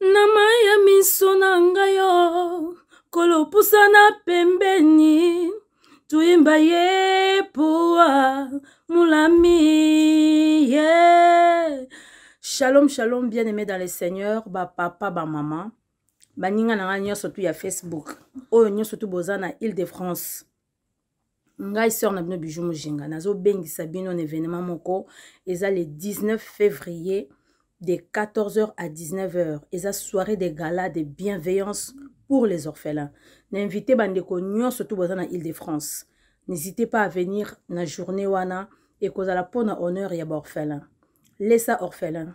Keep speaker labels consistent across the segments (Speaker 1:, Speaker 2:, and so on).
Speaker 1: na mai ya
Speaker 2: miso na ngai yo kolopusana pembeni tuimba ye poa mulami ye yeah. shalom shalom bien aimé dans le seigneur bapapa bamama baninga na ngai nyonso tu ya facebook oyo nyonso tu boza na ile de france ngai sœur na bino bijou mojinga nazobengisa bino na événement moko eza le 19 février de 14h à 19h eza soirée de gala de bienveillance pour les orphelins na invité bandeko nyonso to boza na ile de france n'hésitez pas à venir na journée wana ekozala mpo na honneur ya baorphelin lesa orphelin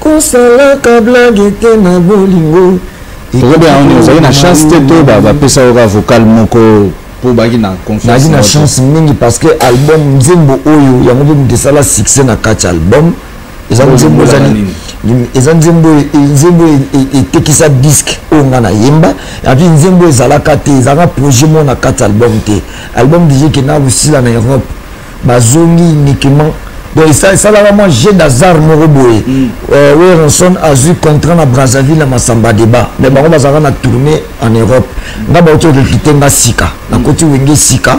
Speaker 3: Kosalaka blague te na bolingo. Tozo bien on
Speaker 4: ozali na chance te to ba ba pesa yo ka vocal moko po baki na confiance. Nagi na chance mingi
Speaker 3: parce que album nzembo oyo yango pe mutu esala succès na kati album. Eza nzembo ezali eza nzembo nzembo etekisa disque oyo nga na yemba epi nzembo ezalaka te ezalaka projet moko na kati album te album deja ekenda kosila na europe bazongi uniquement donc esalaka mwa jeu d'hasard moko boye mm. euh, werenson azwi contrat na brazzaville na masamba débat mais bango bazalaka na tourné en europe nga bauti orekite nga sika nakoti wenge sika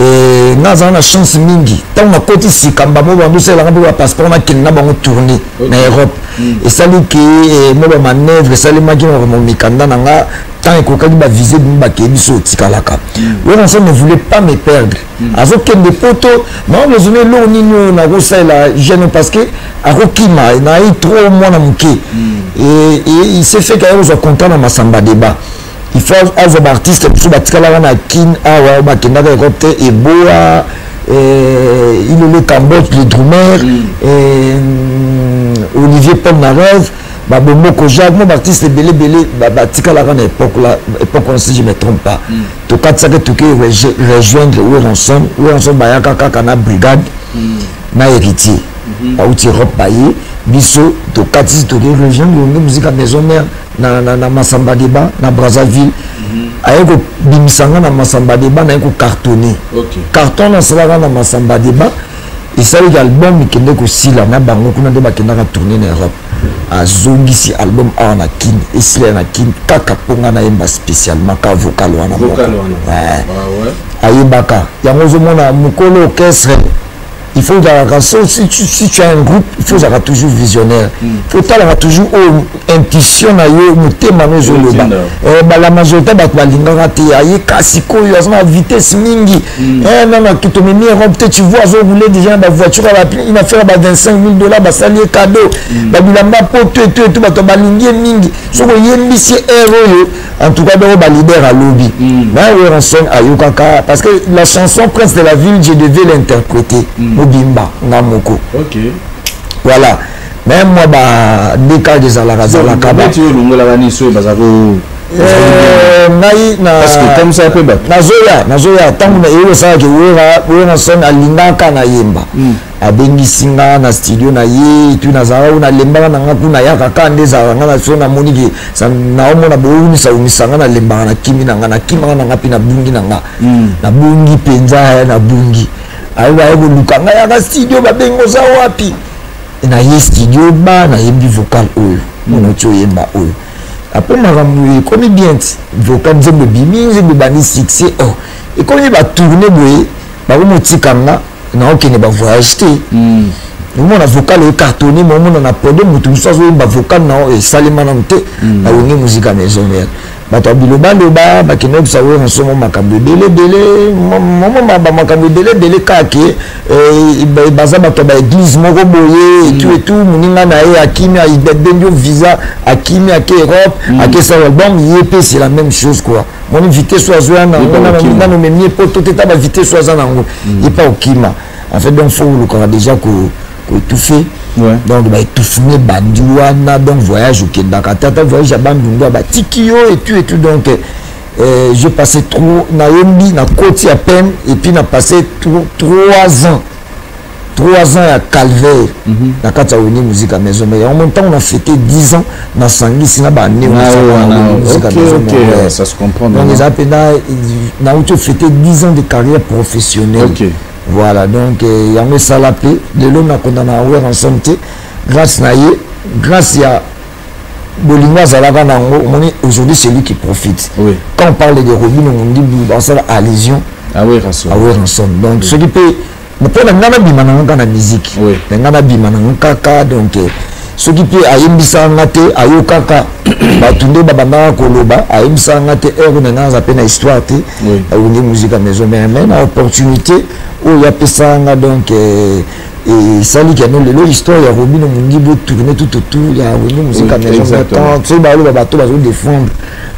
Speaker 3: eh, nga azala na chance mingi ntango nakoti sika mbamo bango esalelaka mpe bapasseport nakende na bango tourné na europe mm. esali ke eh, mwa bamanœuvre esalemaki na mikanda na nga ntango ekokaki bavise bimi bakeye biso otikalaka mm. werenson ne voulait pas me perdre azokende poto maman ozoni eloko nini oyo nakosalela jeune parce que akokima naye trop mwana moke hmm. il se fait kaye kozwa contrat na masamba débat il faut azwa baartiste mosusu batikalaka na kin awa ah bakendaka ekop te eboa eh, ilele cambodge le drumer hmm. eh, olivier paul narez babomoko jacques mo baartiste ebele ebele batikalaka na époque la époque wana si je me trompe pas mm. tokatisaki toke rejoindre weronson weronson bayaka kaka na brigade mm. na héritier mm-hmm. bauti europe baye biso tokatisi toke rejoindre yonge muzika maison mère na, na, na masamba deba na brazzaville mm-hmm. aye kobimisa nga na masamba deba naye kocartonne okay. carton nasalaka na masamba deba esalaki album ekende kosila na bango kuna nde bakendaka tourne na europe azongisi album awa na kin esila na kin kaka mpo ngai nayemba spécialement ka vocal wana moko ah ayebaka yango ozomona mokolo orchestre il faut ozalaka si tu as un groupe il faut ozalaka toujours visionnaire hmm. faut otalaka toujours oyo oh, intuition na yo motema no ozoloba eh, balamazota bato balingaka te aye kasi koyo aza na vitesse mingi hmm. eh, nana tomemi europe te tu vois azoboule déjà na bavoiture ina faire ba 25 000 dollars basali ye cadeau hmm. babilamba poto eto eto bato balingi ye mingi soki oyembisi ere oyo en tout cas doko balider alobi hmm. na weranson ayokaka parce que la chanson prince de la ville je devais l'interpréter mobimba nga moko voilà Même moi ba deka ezalaka zalaka ba. Tu
Speaker 4: longola ba ni soye baza ko eh, ngai na parce que comme ça pe ba. Nazoya nazoya tangu
Speaker 3: na eyo sala ke wera wera son alingaka na yemba. Hmm. abengisi nga na studio na ye etui nazalaka kuna alembaka na nga kuna ayaka kaka nde ezalaka nga na so namoni ke naomona bowumisaumisa nga nalembaka na kimi na nga nakimaka na nga mpe nabungi na nga hmm. nabungi mpenza nabungi aye koluka nga yaka studio babengi oza wapi na ye studio ba na yembi vocal oyo mona ti oyemba oyo apres makambo ekomi bien ti vocal nzembo ebimi nzembo ebandi succès o oh, ekomi batourne boye bakomotika nga naokende bavoyage te hmm. omona vocal oyo cartonne ma omona na pode moto mosusu azoyemba vocal na oyo esalema nano te hmm. na wenge musika maison mare bato ya bilobaloba bakenda yokisa wera nsomo makambo ebele ebele momoma bamakambo ebele ebele kake eh, baza bato ya baeglize moko boye mm. etu etu moninga na ye akimi abendi yo visa akimi ake europe mm. ake sa album ye mpe c'est la même chose quoi moni vitesse oyo azoya nango nano memie poto te ta bavitesse oyo aza nango mm. ye mpe okima en fait donc fo olukaka déjà ko koetufe donc baetufune bandi wana donc voyage okendaka tata voyage ya bandundua batiki yo etu etu donc euh, je passé trop nayembi na koti ya peine epuis na passé trois ans trois ans ya calvaire mm -hmm. na kati ya wenge musique ya maison mère yango ntango na fete 10 ans nasangisi na bane
Speaker 4: eza mpenza
Speaker 3: nauti ofete 10 ans de carrière professionnelle okay. voilà donc euh, yango esala mpe lelo nakondana weransom te grâce na ye grâce ya bolingo azalaka na yango omoni aujourd'hui c'est lui qui profite oui. quand on parle de robino mondibu basala allusion aweransom ah donc oui. soki mpe mpo na ngai nabima nango kaka na musique oui. na ngai nabima nango kaka donc euh, soki mpe ayembisaka nga te ayokaka bato nde babandaka koloba ayembisaka nga te heure na nga aza mpe na histoire te awundi musika maison mère mai na opportunité oyo apesaka nga donc eh, esali keno lelo histoire ya robino mondibo tourne tout autour ya awundi musika maison mère tant soki baloba bato bazo défendre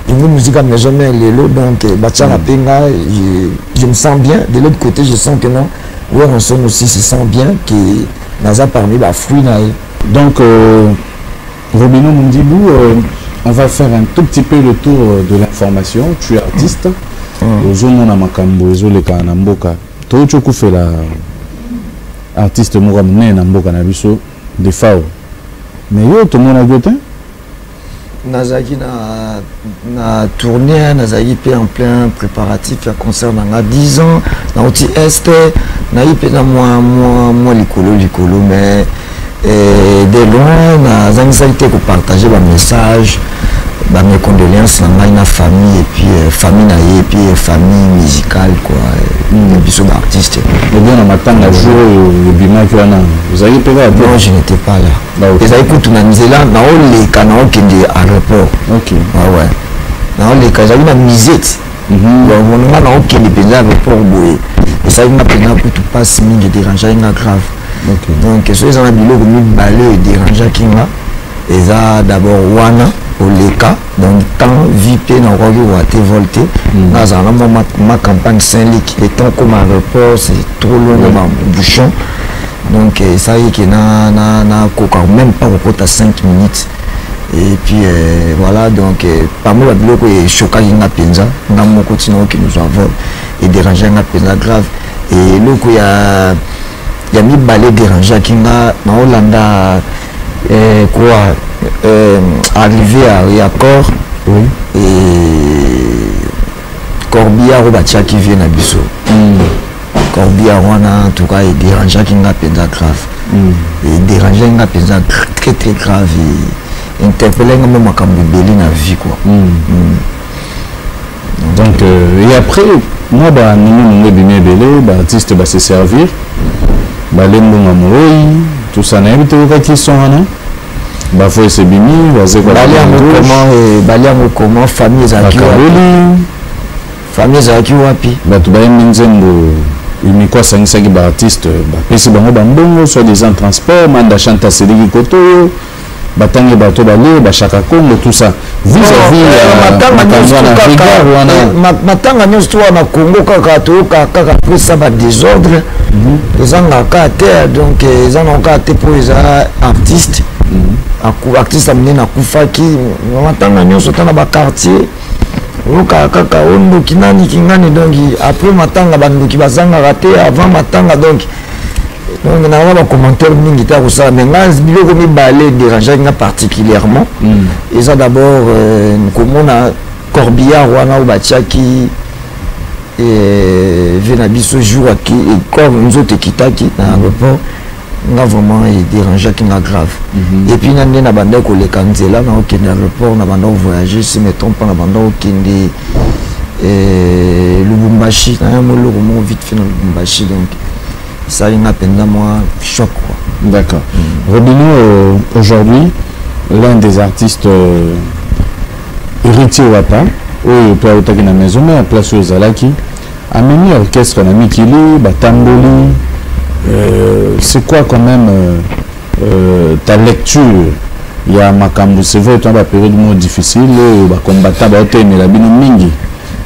Speaker 3: Une musique à maison mère Lelo, donc euh, Bachara mm. Penga, je, je me sens bien. De l'autre côté, je sens que non, Werenson aussi se sent bien, que naza parmi ba fruits na ye donc
Speaker 4: euh, Robino Mundibu euh, on va faire un tout petit peu le tour euh, de l'information tu es artiste mm. ozomona makambo ezoleka na mboka touti okufela artiste moko ya monene na mboka na biso defao mais yo tomonaki yo te
Speaker 3: nazalaki na, na tournée nazalaki mpe en plein préparatif ya concert na nga 10 ans nauti est nayi mpe na mwa mwa mwa likolo likolo mais eh, de loin nazangisaki te kopartage bamessage bamecondoléance na ngai na famille epuis euh, famille na ye epuis euh, famille musicale kua euh, biso baartiste ebona matanga
Speaker 4: jour oyo ebimaki wana ozalaki mpe kaka non je n'étais pas là
Speaker 3: ezali kutu na nzela naoleka naokende aéroport okay. ah ouais. naoleka ezali na musete mhm. mononga naokende mpenza aéroport boye esali nga mpenza kutu mpasi mingi ederangeaki nga grave okay. donc soki eza na biloko mibale oyo ederangeaki nga eza d'abord wana oleka donc temps vie mpe nakoki kowa te vol te mhm. nazala na mwa ma campagne saint lik le temps koma aéroport c'est trop long na bambouchon mm. donc esalaki ke nakoka même pas kokota 5 minutes et puis euh, voilà donc euh, parmi babiloko eshokaki nga mpenza nga moko ntina oyo kinozwa vol ederange nga mpenza grave eloko ya ya mibale ederangeaki nga naolanda eh, quoi eh, arrivé à, à corps oui. et corbillard oyo batiaki vie na biso mm. corbillard wana entoutcas ederangeaki nga mpenza grave mm. ederangeaki nga mpenza très très grave interpellaki nga mpe makambo ebele na vie quoi mm. Mm.
Speaker 4: donc euh, et après mwa baninga nango ebimi ebele baartiste base servir balembonga moroi tout ça nayebi toyokaki son wana ba voice ebimi wazekwa bali yango comment eh, bali
Speaker 3: yango comment famille ezalaki bakaboli famille ezalaki wapi bato bayembi nzembo
Speaker 4: uniko asangisaki baartiste bapesi bango bambongo soit disant transport manda chante asiliki koto oyo batangi bato balie bashaka congo tout ça
Speaker 3: matanga nyonso to wana congo kaka toyoka kaka pesa badesordre mhm. ezanga kaka te donc eh, eza nango kaka te mpo eza artiste mhm. artiste ya monene akufaki matanga nyonso ta na baquartier oyokaka kaka ondoki nani kingani donki après matanga bandoki bazangaka te avant matanga donki donc nanga bacommentaire mingi te akosala mais nga biloko mibale dérangeaki nga particulièrement mm. eza d'abord euh, komona corbillard wana oyo batiaki euh, ve na biso jour aki comme nzoto ekitaki na aéroport nga vraiment edérangeaki nga grave mhm. epuis nga nde na bandaki koleka nzela na okende aéroport na bandaki voyage si me trompe na bandaki okende eh, lubumbashi naya mwa eloko moko vite fait na lubumbashi donc esali nga mpenza mwa choc quoi d'accord mm.
Speaker 4: robino euh, aujourd'hui l'un des artistes euh, héritier wata oyo mpe autaki na maison mare place oyo ozalaki amemi orchestre na mikili batamboli euh, c'est quoi quand même euh, Euh, ta lecture ya makambo c'est vrai tona baperiode moko difficile oyo bacombatant baotelemela bino mingi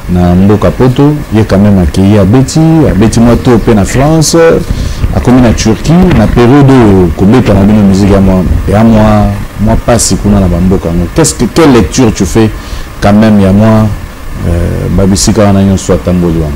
Speaker 4: na mboka poto ye quand même akei abeti abeti mwa to mpe na france akomi na turquie na periode oyo kobeta na bino musique ya mwa ya mwa mwa pasi kuna na bamboka yango qu'est-ce que quelle lecture tu fais quand même ya mwa euh, babisika wana nyonso atamboli wana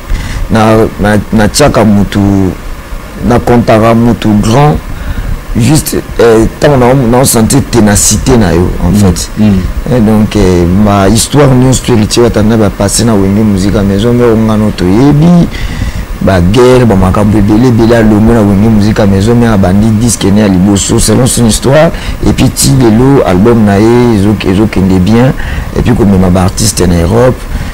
Speaker 3: natiaka mutu na comptaka mutu grand juste eh, ntango naosentir ténacité na yo en mm. fait mm. Eh, donc eh, ma histoire nyonso to héritier batanda bapasse na wenge muzika maison mero ngano toyebi baguerre bamakambo ebele ebele alongo na wenge muzika maison mero abandi diske ne ya liboso selon son histoire epuis ti lelo album na ye ezokende bien epuis komema baartiste na europe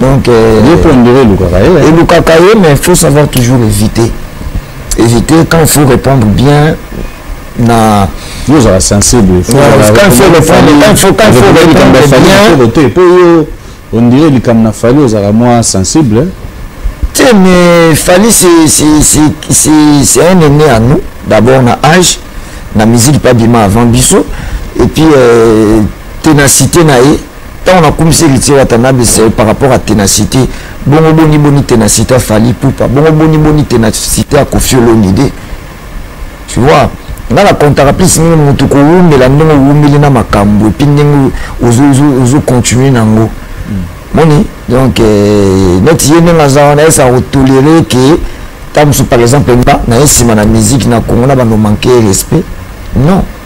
Speaker 3: donc euh, ye mpo ondire elukaka ye eh. elukaka ye mais faut savoir toujours éviter éviter quand faut répondre bien na
Speaker 4: yo ozala
Speaker 3: sensible mpo yo ondire
Speaker 4: likambo na fali ozala mwa sensible te mais
Speaker 3: fali c'est un aîné à nous d'abord na âge na musique pas bima avant biso et puis euh, ténacité na ye ntango nakumisi héritier watanabe c'est par rapport à ténacité bongo boni boni ténacité ya fali pupa bongo boni boni ténacité ya kofi olomide tu vois nga na contaka plus mingi motu kowumela ndenge owumeli na makambo epuis ndenge ozocontinue na yango moni donc euh, neti ye ndenge aza wana esa kotolere ke ntango mosusu par exemple nga naye nsima na musique na congo na banomanke respect non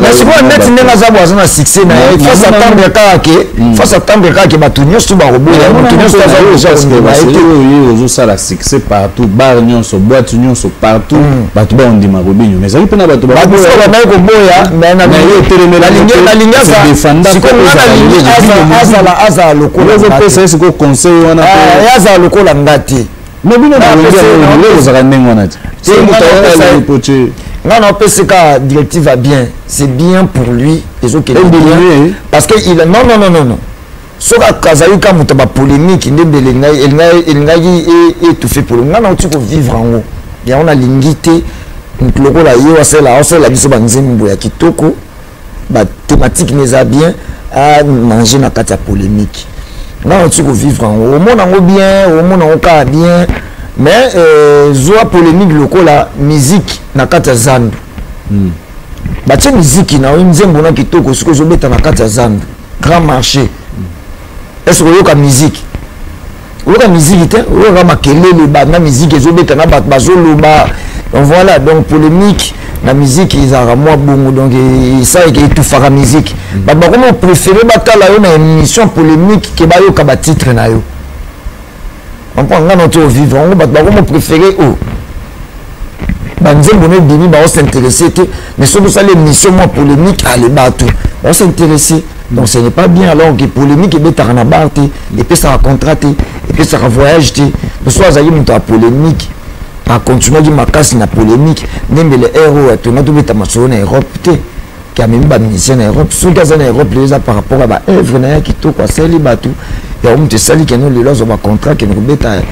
Speaker 3: mais sikoyo neti ndenge aza bo aza na succès na ye face atendre kaka ke face atendre kaka ke bato nyonso bakoboya moto nyonso aza oza kondima ye te
Speaker 4: oyo ozosala succès partout bar nyonso boite nyonso partout hmm. bato bakondima kobinyo mais ezali mpe na bato bakoboyabandaki koboya
Speaker 3: nalingi azala lokola
Speaker 4: azala lokola
Speaker 3: nga te Mais bino na wengi
Speaker 4: ya lelo lelo zaka ndenge wana ti. C'est muta ya poche.
Speaker 3: Nga na opesi ka directive à bien. C'est bien pour lui ezo kende bien. Parce que il non non non non non. soki azali ka moto ba polémique nde mbe elingaki étouffe polo nga na oti kovivre yango yango nalingi te moto lokola ye asala asala biso banzembo ya kitoko ba thématique mais ça bien à manger na kati ya polémique nga na tiko vivre yango omona yango bien omona yango kaka bien mais euh, zwa polémique lokola musique na kati ya zandu mm. batie miziki na yo nzembo na kitoko soki ozobeta na kati ya zandu grand marché mm. est ce koyoka miziki oyoka miziki te oyoka makelele banda miziki ezobeta na bato bazoloba donc voilà donc polémique na miziki ezalaka mwa bongo donc esalaka etufaka miziki mm. bato bakomi opréféré batala yo na émission polémique ke bayoka batitre na yo ompo nga na to ovivre yango bato bakomi opréféré o oh. banzembo na ebimi baosinteresse te mais soki osali émission mwa polémique ale bato baosinteresse donc ce n'est pas bien alors que polémique ebetaka na bar te epesaka contrat te epesaka voyage te mosusu azalaki moto ya polémique akontinuaki makasi na polémique nembele ero atona tobeta masolo na europe te ke amemi bamusicien na europe soki aza na europe lelo eza par rapport ya baœuvre na ye kitoko asali bato yango moto esali keno lelo azwa bacontrat keno kobeta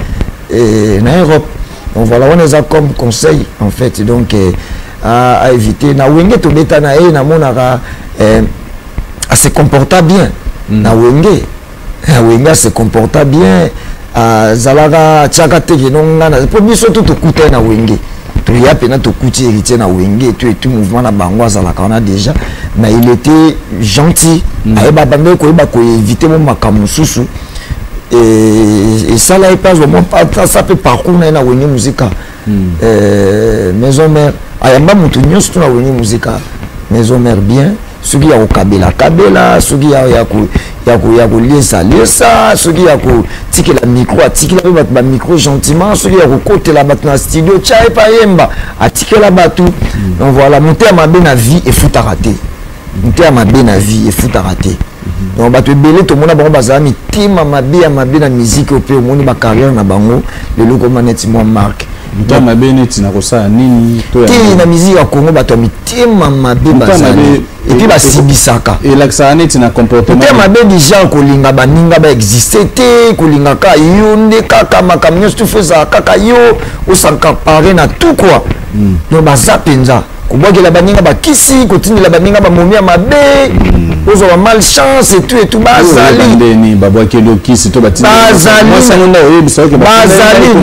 Speaker 3: eh, na europe donc voilà wana eza comme conseil en fait donc eh, à, à éviter na wenge tobetana ye eh, namonaka eh, ase comporta bien mm. na wenge na wenge ase comporta bien azalaka atiaka teke no ngai na mpo biso tu tokutani na wenge toya mpena tokuti héritier na wenge tu etu mouvement na bango azalaka wana déjà mais il était gentil mm. ayeba bandeki koyeba koevite mo makambo mosusu Et, et ça là, il passe vraiment pas ça peut parcours na na wenge musique. Hmm. Euh, maison mère, ayamba mutu nyonso tuna wenge musique. Maison mère bien, soki ya kokabela kabela, soki ya ya ko ya ko ya koliesa liesa, soki ya kotikela micro atikela pe bato ba micro gentiment, soki ya kokotela bato na studio tya epa yemba atikela bato. Hmm. Donc voilà, motema mabe na vie efutaka te. motema mabe na vie efutaka te donc bato ebele tomona bango bazala mitema mabe ya mabe na miziki oyo mpe omoni bacarrière na bango lelo ekoma neti mwa marke motema mabe neti
Speaker 4: na kosala nini te na miziki ya kongo
Speaker 3: bato ya mitema mabe bazali epuis basibisaka elakisaka neti na
Speaker 4: comportement motema mabe deja
Speaker 3: kolinga baninga baexiste te kolinga kaka yo nde kaka makambo nyonso tufu ezala kaka yo osankapare na tout kua hmm. donc baza mpenza kobwakela baninga bakisi kotindela baninga bamomi ya mabe hmm. ozwa ba mal chance etu etu
Speaker 4: bazalibazali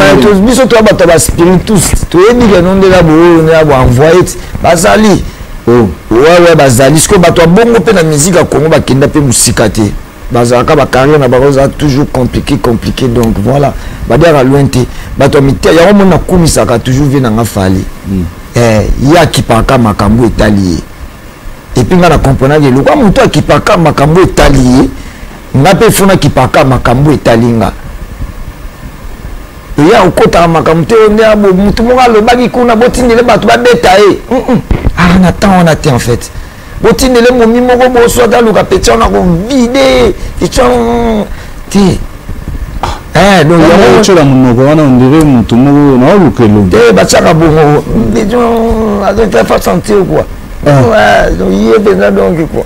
Speaker 3: biso toya bato ya baspiritus toyebi keno nde na booyo nde na boenvoye ti bazali oh. wawa bazali sikoyo bato ya bongo mpe na miziki ya kongo bakenda mpe mosika te bazalaka bacarrière na bango eza toujours compliqué compliqué donc voilà badiaka loin te bato ya mite yango moni nakumisaka toujours vie nanga fali mm. eh, ye akipaka makambo etali ye epuis ngai nakomprenaki eloko a moto akipaka makambo etali ye ngai mpe fo nakipaka makambo etali nga eya okotaka makambo te onde motu moko alobaki kuna botindele bato babeta ye ah na temps wana te en fait botindele momi moko boswa ata luka peti wana kovide etya te otyola
Speaker 4: monoko wana ondire motu moko naoluka elongi te batyaka
Speaker 3: bongo azofa sentir kua ye mpenza donki kua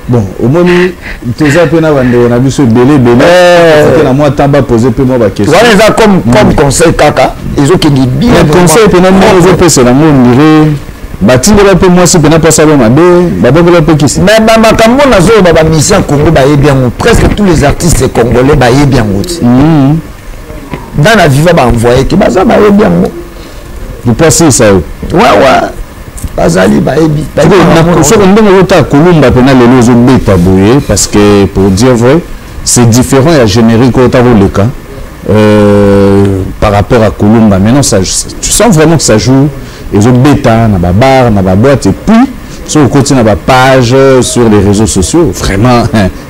Speaker 4: bon omoni toza mpe na bandeko na biso ebele ebele eh. na mwa temps bapose mpe mwa baquestion wana eza comme mm. comme
Speaker 3: conseil kaka ezokende bien conseil mpe na moko
Speaker 4: ezopesela ngo ondire batindela mpe mwasi mpe napasala mabe babongela mpe kisi me bamakambo
Speaker 3: nazoloba bamisi ya congo bayebi yango presque tous les artistes congolais bayebi yango ti mm. dans na viva baenvoye te baza bayebi yango
Speaker 4: lipasisa yo wawa
Speaker 3: bazali bayebi soko ndenge ozotala
Speaker 4: kolumba mpena lelo ezobeta boye parce que pour dire vrai c'est différent ya générique oyo ta koleka euh, par rapport à kolumba maintenant ça, tu sens vraiment que ça joue ezobeta na babar na baboite et puis soki okoti na bapage sur les réseaux sociaux vraiment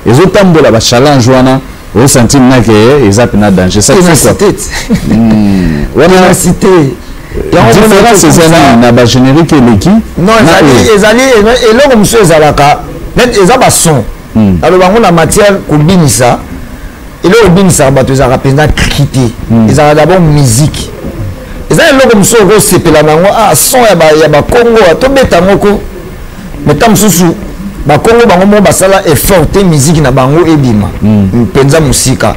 Speaker 4: ezotambola bachallenge wana o sentir na ke eza pena danger ça c'est quoi
Speaker 3: hmm. wana cité
Speaker 4: différence eza nini na ba générique eleki non
Speaker 3: ezali eloko mosusu ezalaka net eza ba son hmm. aloba yango na matière kobinisa eloko ebinisaka bato ezalaka mpenza kriki te hmm. ezalaka d'abord musique eza eloko mosusu okosepela na yango ah son ya bakongo tobeta yango ko mais ntango mosusu bakongo bango moko basala effort te miziki na bango ebima mpenza mm. mosika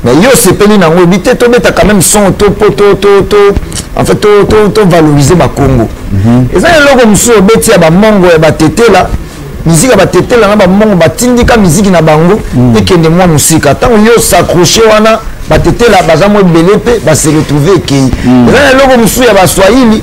Speaker 3: mais yo osepeli na yango oyebi te tobeta quand même son to po to to to en fait to to to valoriser bakongo mhm. eza eloko mosusu obeti ya bamongo ya batetela miziki ya batetela na bamongo batindika miziki na bango mm. ekende mwa mosika ntango yo osacroche wana batetela baza mwa ebele mpe baseretrouve ekei mm. eza na eloko mosusu ya baswahili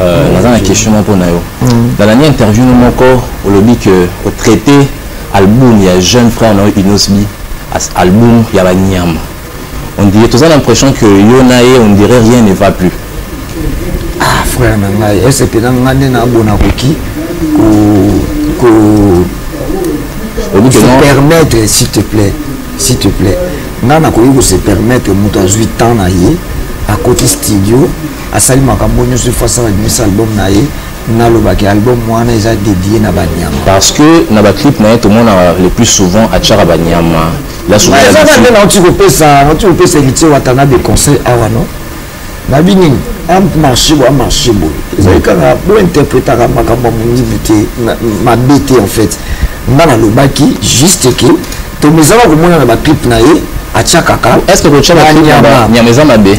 Speaker 5: Euh, naza na question moko na yo mm. na nani interview no moko olobi ke otraite album ya jeune frère na yo inosbi as album ya banyama on dirait toza na impression que yo na ye on dirait rien ne va plus ah
Speaker 3: frère na ngai esepela ngai nde nabona koki ko se permettre s'il te plaît s'il te plaît ngai nakoki ko se permettre moto azwi temps na ye akoti studio asali makambo nyonso ifo asala bimisa album na ye nalobaki album wana eza dédié na banyama parce que na
Speaker 5: baclip na ye tomonaka le plus souvent atyaka banyama yazaka nde nauti kopesa
Speaker 3: nauti kopesa héritier watana de conseil awa no nabi nini amarche boye amarche boye ezali kaka bointerpretaka makambo ya mongibi te mabe te en fait nga nalobaki juste ke tomezaka komona na baclip na ye atyakaka est ce que kotya baclip na
Speaker 5: banyama eza mabe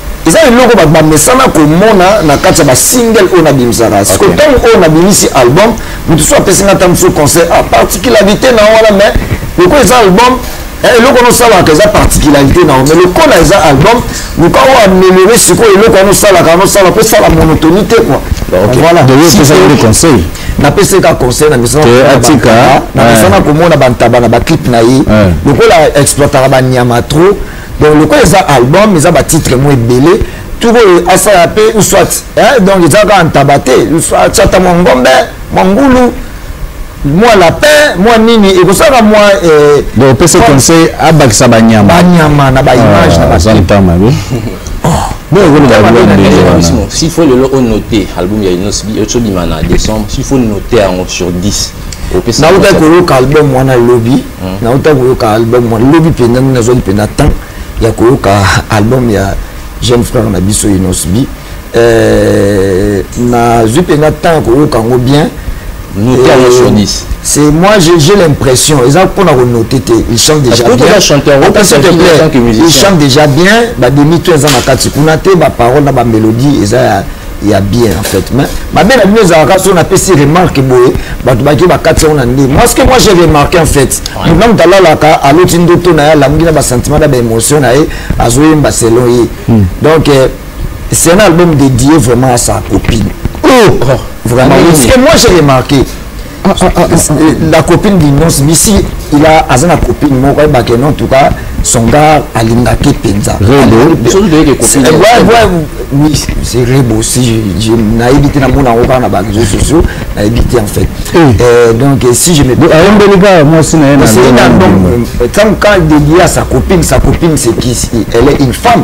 Speaker 3: eza eloko bato bamesana komona na kati ya basingle oyo nabimisaka siko ntango oyo nabimisi album moto so apesi nga ata mosusu conseil a ah, particularité na wana mais lokola eza album eh, eloko wana osalaka eza particularité na yango mais lokola eza album luka oyo ameliore sikoyo eloko wana osalaka wana osala mpo osala monotoni te kua voilà
Speaker 4: conseil napesi ye ka
Speaker 3: conseil na misana
Speaker 4: komona
Speaker 3: bantaba na baclipe na ye lokola exploitaka banyama trop donc lokola eza album eza batitre mo ebele tuku oyo asala mpe uswat eh, donc eza kaka ntaba te uswatata mwa ngombe mwa ngulu mwa lapin mwa nini ekosalaka mwa eh, donc opesi
Speaker 4: conseil abakisa banyama banyama na baimage
Speaker 3: na ah, baza ntama be
Speaker 4: s'il
Speaker 5: faut lelo onote album ya inosbi esobima na décembre s'il faut note yango sur 10 nautaki
Speaker 3: koyoka album wana lobi na uta koyoka album wana lobi mpenza nde nazwaki mpenza temps ya koyoka album ya jeune frère na biso inosbi euh, nazwi mpenza temps ya koyoka yango bien
Speaker 5: c'est moi j'ai
Speaker 3: l'impression ils ont pour noter il chante déjà bien il chante déjà bien bah demi tout ils ont ma carte pour noter ma parole ma mélodie ils ont ya bien en fait mais mabe na bino ezalaka so napesi remarque boye bato bake bakati yango na nde moi ce que moi j'ai remarqué en fait mona moto alalaka aloti ndoto na ye alamuki na basentiment na baémotion na ye azoyemba selon ye hmm. donc euh, c'est un album dédié vraiment à sa copine oh, oh. vraiment oui. ce que moi j'ai remarqué Ah, ah, ah, la copine d'innonce bisi il a aza na copine moko ayebake non en tout cas son gars alingaki mpenza c'est rebo si nayebi te namona yango kaka na bareseau sociaux nayebi te en fait eh. euh, donc euh, si je meayombeli kaka mwasi na ye ntango quand il dédie à sa copine sa copine c'est qui elle est une femme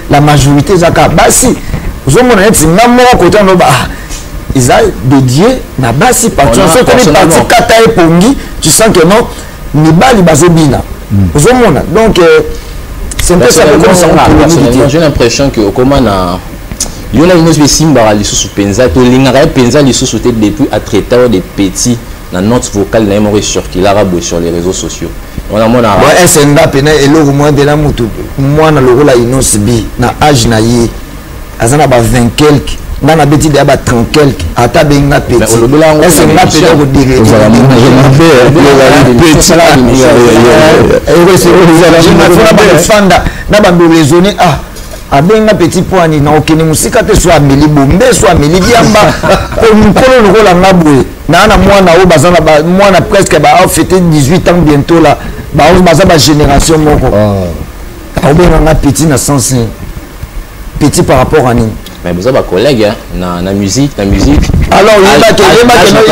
Speaker 3: la majorité eza kaka basi ozomona neti nga moko kota noba ah, eza dédié na basi parti sokomi parti kata epongi tu sens que non mibali bazobina hmm. ozomona donc euh, c'est un peu ça j'ai l'impression
Speaker 5: que okoma na yo na inosi esimbaka lisusu mpenza tolingaka ye mpenza lisusu te depuis atraitao de petit na note vocale na ye moko ecirculaka boye sur les réseaux sociaux wana mwana bon ese nga pena
Speaker 3: eloko mwa de na motu mwana lokola inos b na age na ye aza na ba 20 quelque nga nabeti deya ba 30 quelque ata be nga petitese nga pena kodereeaa na bando raisonne ah abenga petit poani na okende mosika te so ameli bombe so ameli diamba po mokolo lokola nga boye naa na mwana oyo baza na mwana presque baafete 18 ans bientôt la baza bagénération moko ah. aobenga nga petit na sens petit par rapport à nini mais boza bacollègue
Speaker 5: na, na musique na musique alors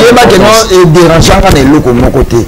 Speaker 3: yebake no ederangeanga na eloko moko te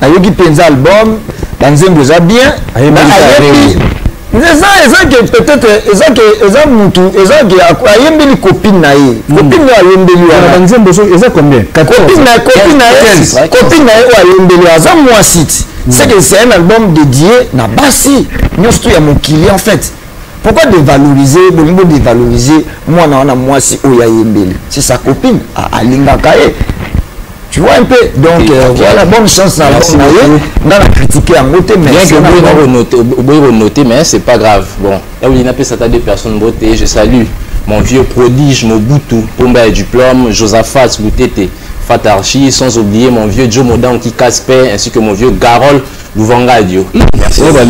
Speaker 3: nayoki mpenza album banzembo eza bien ayebi eza eza ke peut-être eza ke eza mutu eza ke ayembeli copine na ye hmm. copine oyo ayembeli wana banzembo eza combien copine na copine na ye copine na ye oyo ayembeli aza mwasi ti hmm. c'est que c'est un album dédié na basi nyonso to ya mokili en fait pourquoi dévaloriser bolingi bodevaloriser mwana wana mwasi oyo ayembeli c'est sa copine alingaka ye Tu vois un peu donc euh, voilà bonne chance na album na ye nga na critiquer yango te mais bien que oboyi na konote
Speaker 5: oboyi konote mais c'est pas grave bon naolingi eh napesa ata deux personnes mbote je salue mon vieux prodige mobutu pomba ya diplôme josaphat lutete Fatarchi, sans oublier mon vieux Joe Modan qui casse paix, ainsi que mon vieux Garol Louvangadio. Merci.
Speaker 4: Oh, bah,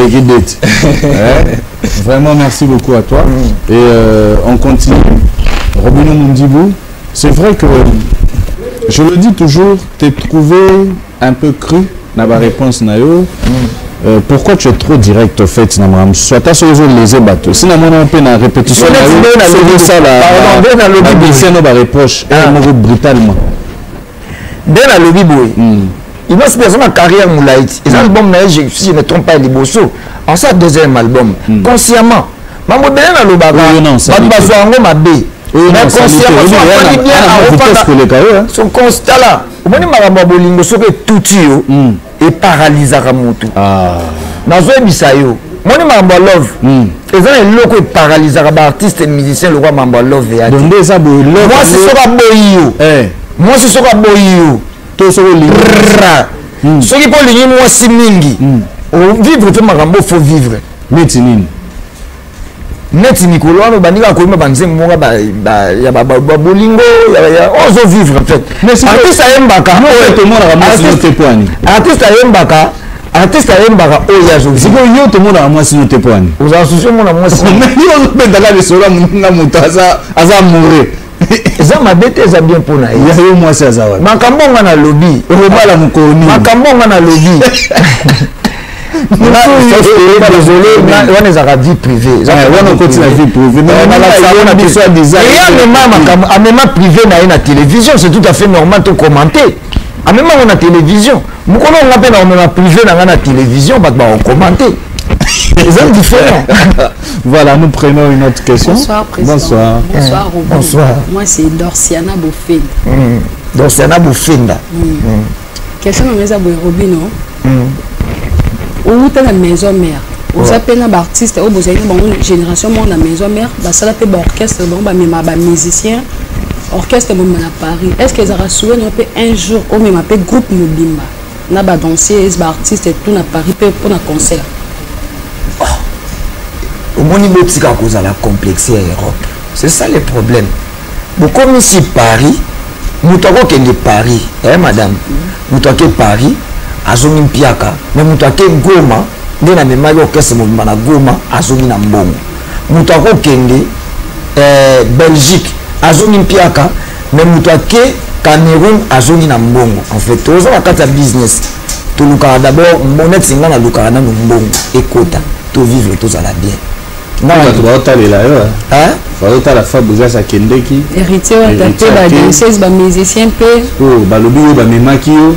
Speaker 4: Vraiment, merci beaucoup à toi. Mm. Et euh, on continue. Robino Mundibou, C'est vrai que je le dis toujours, t'es trouvé un peu cru dans ma réponse nayo. Mm. Euh, pourquoi tu es trop direct au fait na makambo soit ata soki ozolese bato si namona mpe na répétition nayo soki osala babieseno bareproche moko brutalement
Speaker 3: nde nalobi boye hmm. inos mpe aza na carrière molai ti eza hmm. album na ye si je ne trompe pas liboso ansa deuxième album hmm. consciemment mambo ebele nalobaka bato bazwa yango mabe consciemment bien akopaka son constat la omoni makambo ya bolingo soki etuti yo eparalizaka motu ah. nazoyebisa yo moni makambo ya love hmm. eza na eloko eparalizaka baartiste musicien lokola makambo ya love yadonde eza boyemwasi
Speaker 4: soki aboyi
Speaker 3: yo eh. mwasi soki aboyi yo to soki olingi
Speaker 4: hmm. soki mpo olingi
Speaker 3: mwasi mingi hmm. ovivre to makambo fo vivre neti nini neti mikolo wana obandi kaka koyima banzembo moko ya bolingo ozo vivre en fait
Speaker 4: artiste
Speaker 3: ayembaka
Speaker 4: artiste
Speaker 3: ayembaka
Speaker 4: artiste
Speaker 3: ayembaka oyo ya zozi sikoyo yo tomonaka mwasi
Speaker 4: no te mpo ani ozala susi omona mwasi
Speaker 3: yo ozobendaka
Speaker 4: lisolo na moto aza amoureux eza mabe
Speaker 3: te eza bien mpo na ye ya yo mwasi aza wapi
Speaker 4: makambo nga nalobi
Speaker 3: okobala mokolo nini
Speaker 4: makambo nga nalobi
Speaker 3: wana ezalaka vie
Speaker 4: privéeamema
Speaker 3: privé na ye na télévision c'est tout à fait normal to commenter amema yango na télévision mokolo nga mpe nakomema privé na ngai na télévision bato bakokommente eza différent Voilà,
Speaker 4: nous prenons une autre question. Bonsoir, Président. Bonsoir.
Speaker 6: Bonsoir, eh, Robin.
Speaker 4: Bonsoir.
Speaker 6: Moi, c'est
Speaker 3: Dorciana
Speaker 6: Bofenda. Mm. Dorciana
Speaker 3: Bofenda. Mm. Mm.
Speaker 6: Question na meza boye Robino. Mm. Outa la maison mère. oza mpe na baartiste oyo bozali na bango génération moko na maison mère basala mpe baorchestre bango bamema bamusicien orchestre bomema na paris est ce que ezalaka souvenir mpe un jour omema mpe groupe mobimba na ba danseuses ba artistes tout na Paris pe pona concert oh.
Speaker 3: omoni botika kozala complexe ya Europe c'est ça le problème bokomi si Paris moto akokende Paris eh madame moto ake Paris azongi mpiaka mais moto ake Goma nde na memaki orchestre mobimba na Goma azongi na mbongo moto akokende eh, Belgique azongi mpiaka mais moto ake cameroun azongi na mbongo en fait toza na kati ya business tolukaka d'abord monete nga nalukaka nano mbongo ekota tovivre tozala bien bato
Speaker 4: baotalela yo baotala fabrigas akendeki héritier wata mpe
Speaker 6: badiocese bamusicien mpe oyo balobi
Speaker 4: yo bamemaki yo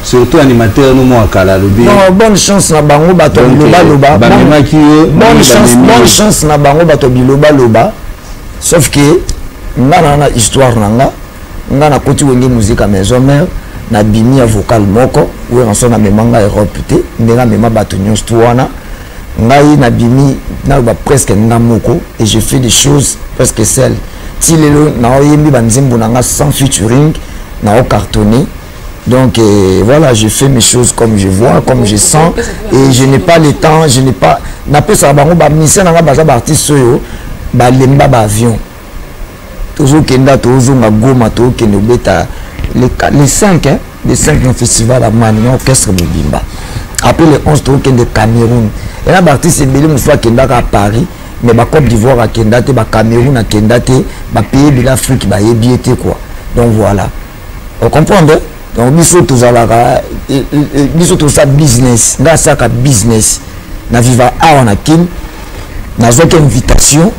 Speaker 4: surtout animateur no mwa kala alobi bonne chance na
Speaker 3: bango bato bilobaloba bamemaki yo bonne chance na bango bato bilobaloba sauf que nga na na histoire na nga nga nakoti wenge musique ya maison mère nabimi ya vocal moko weranson amema nga europe te ndenge amema bato nyonso tu wana ngai nabimi naloba presque nga moko et je fais des choses presque seul ti lelo naoyembi banzembo na nga sans featuring naocartonne Donc euh, voilà, je fais mes choses comme je vois, comme je sens, et je n'ai pas le temps, je n'ai pas... Na pesa bango ba mission na baza ba artiste oyo ba lemba ba avion. Tozo kenda tozo nga goma to kende beta les les 5 hein, les 5 no festival à Mani, orchestre Bimba. Après les 11 to kende Cameroun. Et là ba artiste belé musoa kenda à Paris. mais bacope d'ivoire akenda te bacameroun akenda te bapaye bila afrique bayebi ye te quoi donc voilà o comprendre donc biso tozalaka eh, eh, eh, biso toza business nga asaka business na viva awa na kin nazwaki invitation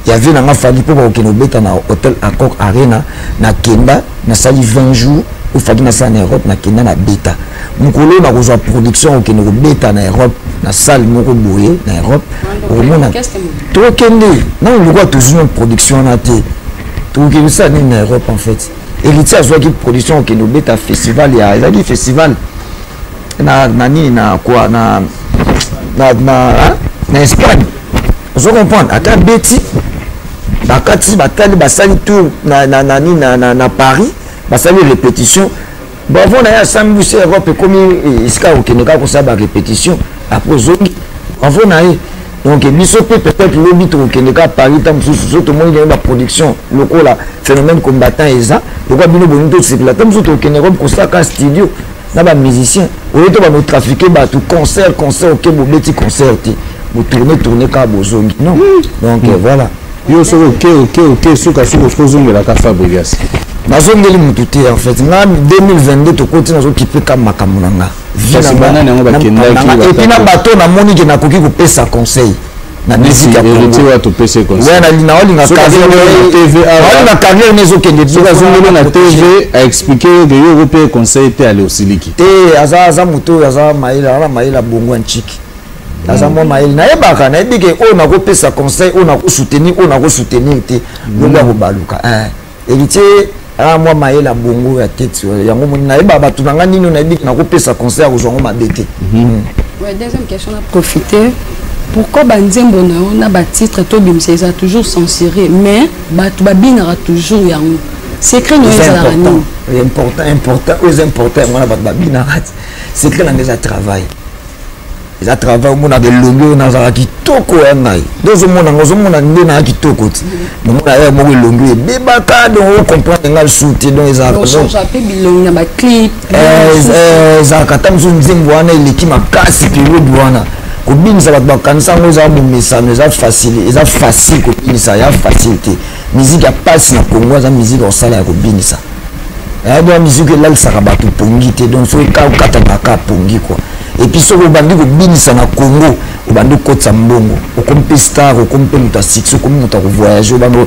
Speaker 3: ya vie na nga fali mpo bakokende kobeta na hôtel accord arena nakenda nasali 20 jours oyo faki nasala na europe nakenda na beta mokolo oyo nakozwa production okende kobeta na europe na salle moko boye na europe okomona tokokende nano lokola tozwi na production wana te tokokende osala nini na europe en fait héritier azwaki production okende obeta festival ya ezalaki festival na, na nini na quoi na na, na, hein? na espagne ozo comprendre ata beti bakati batali basali tour na, na, na, na, na, na paris basali répétition bravo na ye asambi biso europe ekomi eh, esika kokende kaka kosala ba répétition après ozongi bravo na ye donc biso mpe peut-être lobi tokokende kaka paris ntango mosusu so tomoni ndenge baproduction lokola phénomène combattant eza lokola bino bolingi tosepela ntango mosusu tokokende europe kosala kaka studio na bamusicien oye to banotrafique bato concert concert oke bobeti concert te botourne tourne kaka bozongi non donc hmm. voilà yo soki oke
Speaker 4: oke oke suka suka osuki ozongelaka fabrigas nazongeli
Speaker 3: motu te en fait nga 2022 tokoti nazokipe ka makambo na nga epuis na bato namoni ke nakoki kopesa conseil na musique ya congoya naolinga carrière ne ezokende soki azongeli na tv
Speaker 4: aexplike yo ke yo okope conseil te ale osiliki te aza
Speaker 3: moto oyo aza mayela aza na mayela bongo ya nciki aza mwa mayele nayebaka nayebi ke oyo nakopesa conseil oyo nakosoutenir oyo nakosoutenir te lobi akobaluka héritier aa mwa mayele ya bongo ya tete yango moni nayeba bato na ngai nini oyo nayebi nakopesa conseil ya kozwa yango mabe te
Speaker 6: deuxième question na profiter pourquoi banzembo na yo na batitre tobimisa eza toujours censuré mais bato babinaka toujours yango secret na yo ezalaka nini important important
Speaker 3: oyo eza important yango wana bato babinaka secret na ngai eza travail eza travail omonaka elongi oyo nazala kitoko ya ngai nde ozomona ngo ozomona nde naa kitoko ti nomona ya moko elongi ebebaka donc ocomprendre ngai lisusu te donc
Speaker 6: ezalaka
Speaker 3: ata mosusu nzembo wana eleki makasi periode wana kobinisa bato bakanisa yango eza momesano eza facile eza facile kobinisa ya facile te miziki ya mpasi na kongo aza miziki ya kosala ya kobinisa ayadwa musique elalisaka bato pongi te donc soki ka okata baka pongi kua epuis soki obandi kobinisa na congo obandi kokotisa mbongo okomi mpe star okomi mpe moto ya succès okomi moto ya kovoyage obandi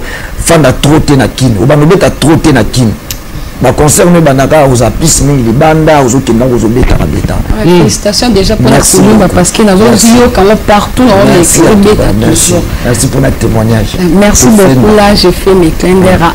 Speaker 3: ofanda tro te na kini obandi obeta tro te na kini baconcert no ebandaka oza pise mingi libanda ozokenda yango ozobetaka betaka hmm. félicitation déjà
Speaker 6: mpona kolumba parce que nazoyoka yango partout na omesi obeta toujours
Speaker 3: merci mpona témoignage merci beaucoup
Speaker 6: là je fais mes clin d'era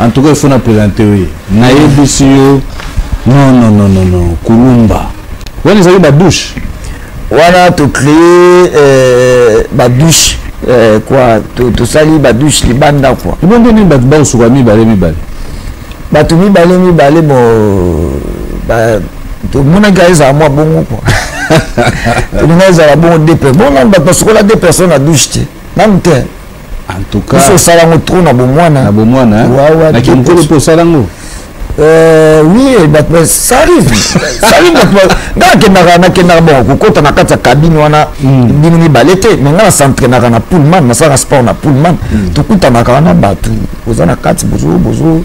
Speaker 4: en tout cas il faut na présenter oui nayebisi yo non non non non non kulumba wana ezali ba douche wana
Speaker 3: to créer euh, ba douche euh, quoi tosali ba douche libanda quoi ebonde nini bato bakosuka
Speaker 4: mibale mibale
Speaker 3: bato mibale mibale bo tomonaki ezala mwa bongo quoi tolinga ezala bongo deux personnes bongo nanu bato basukola deux personnes na douche te nanu te en tout cas
Speaker 4: biso osala yango trop na
Speaker 3: bomwana na bomwana
Speaker 4: na kimokolo mpe osala yango Euh,
Speaker 3: oui eh, bato eh, ça arrive ça arrive bato eh, nga nakendaka nakendaka bon kokota na kati ya kabine wana hmm. bino mibale te mais nga nasentrainaka na pullman nasalaka sport na pullman hmm. tokutanaka wana bato oza na kati bozo bozo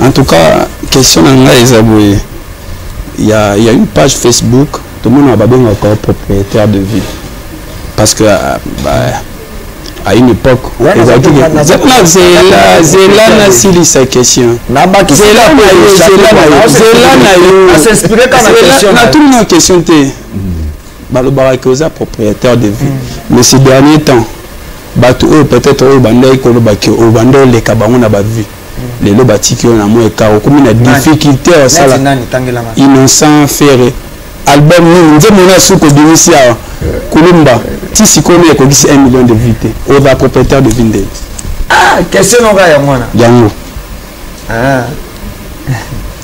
Speaker 3: En tout cas,
Speaker 7: question na ngai eza boye. Il y a, il y a une page Facebook, tout le monde a babongo encore propriétaire de ville. Parce que, euh, bah, à une époque, Ouais, ils ont dit que- naza- Zela, naza- Zela, Zela n'a sili sa question. Zela na yo, Zela na yo, Zela na yo. asinspire kaka na Zela- question na na yo. tout na question te. balobaka ke oza propriétaire de vie mais ces dernier temps bato oyo peut-être oyo bandaki koloba ke obanda oleka bango na bavie lelo batiki yo na mwa ekar okomi na difficulté ya osala innocent ferre album nini nzembo na suki obimisi awa kulumba ti sikoyo nde ekokisi 1 million de vue te oza propriétaire de vinde ah,
Speaker 3: question noka yango wana yango
Speaker 7: ah.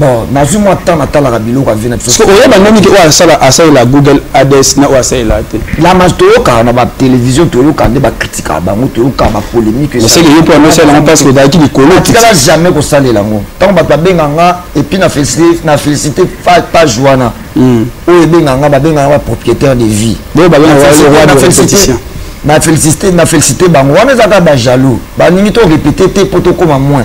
Speaker 7: bon nazwi
Speaker 3: mwa temps natalaka biloko avi na biso oyeba ndenge te oyo
Speaker 7: asala asalela google ads na oyo asalela te lama toyokaka
Speaker 3: na batelevizio toyokaka nde bakritikaka bango toyokaka bapolémike eseke yo mpo anosala
Speaker 7: yango parce ozalaki likolo tikala jamais kosalela
Speaker 3: yango ntango bato babenga nga epuis na félicité page wana hmm. oyo ebenga nga babenga nga bapropriétaire de
Speaker 7: vie
Speaker 3: na félicité bango wana ezaka bajaloux balingi to répété te mpo tokóma moins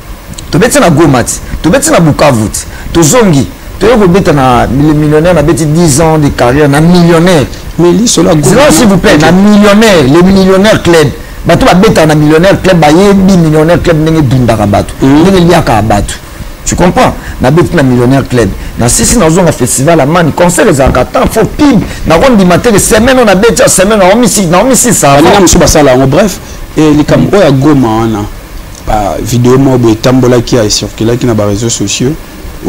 Speaker 3: tobeti na goma ti tobeti na bukavu ti tozongi toye kobeta na millionnaire nabeti 10 ans de carrière na millionnaire mais lisolo ya
Speaker 7: goma s'il vous plaît na
Speaker 3: millionnaire le millionnaire club bato babetaka na millionnaire club bayebi millionnaire club ndenge edundaka bato mm. ndenge eliaka bato tu comprends nabeti na millionnaire club nasisi nazonga festival ya mani concert ezalaka temps fo pib nakondima te ke semaine oyo nabeti ya semaine naomisisa baninga mosusu basala yango bref
Speaker 7: eh, likambo oyo ya goma wana ba video moko boye etambolaki ya ecirculaki na bareseau sociaux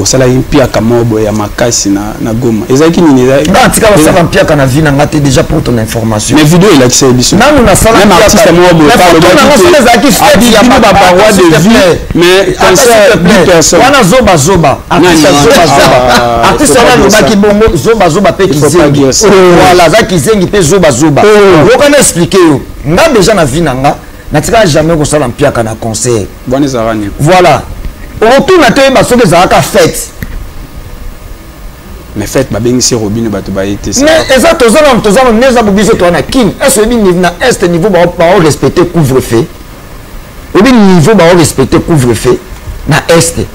Speaker 7: osalaki mpiaka moko boye ya makasi na, na goma ezalaki nini natika basala mpiaka
Speaker 3: na vie na nga te déjà pour ton information mais video elakisa ye biso
Speaker 7: nanu nasala meme artiste
Speaker 3: moko boye
Speaker 7: alobaki abikino
Speaker 3: baparoi de vie
Speaker 7: mais concert du personne wana zoba zoba
Speaker 3: artiste zoba zoba ah, artiste wana alobaki bongo zoba zoba pe kizengi oh. voilà aza kizengi pe zoba zoba oh. yoka na expliquer yo nga déjà na vie na nga natika jamais kosala mpiaka na concert bwana ezalaka nini
Speaker 7: voilà
Speaker 3: okotuna te oyeba soki ezalaka fete
Speaker 7: mais fete babengisi robino bato baye te mais eza toza na toza
Speaker 3: na neza bobiso toa na kin ese oyebi na est niveau bao respecte couvre feu oyebi niveau bao respecte couvre feu na est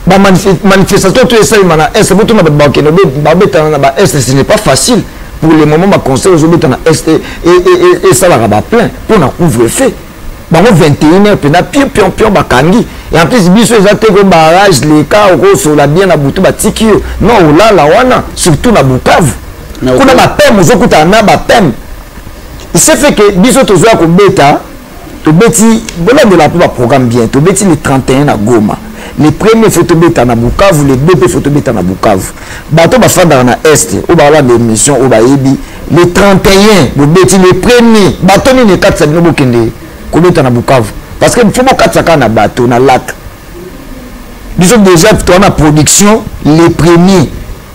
Speaker 3: ba manifestation to esalema na est botuna bato bakende babetana na ba est ce n'est pas facile pour le moment baconseil ozobeta na est esalaka baplein mpo na couvre feu bango 21 heure mpena pio piompion bakangi et en plus biso eza te ko barrage leka okosola bien na butu batiki yo non olala wana surtout na bukavu kuna bapeme ozokutana na bapeme ce fait que biso tozoya kobeta tobeti bolandela mpe baprogramme bien tobeti le 31 na goma le premier fo tobeta na bukavu le 2 mpe fo tobeta na bukavu bato bafandaka na est oyo bakolanda émission oyo bayebi le 31 bobeti le premier bato nini ekatisa bino bokende kobeta na bukavu parce que fo bokatisa kaka na bato na lac biso déjà toa na production le premier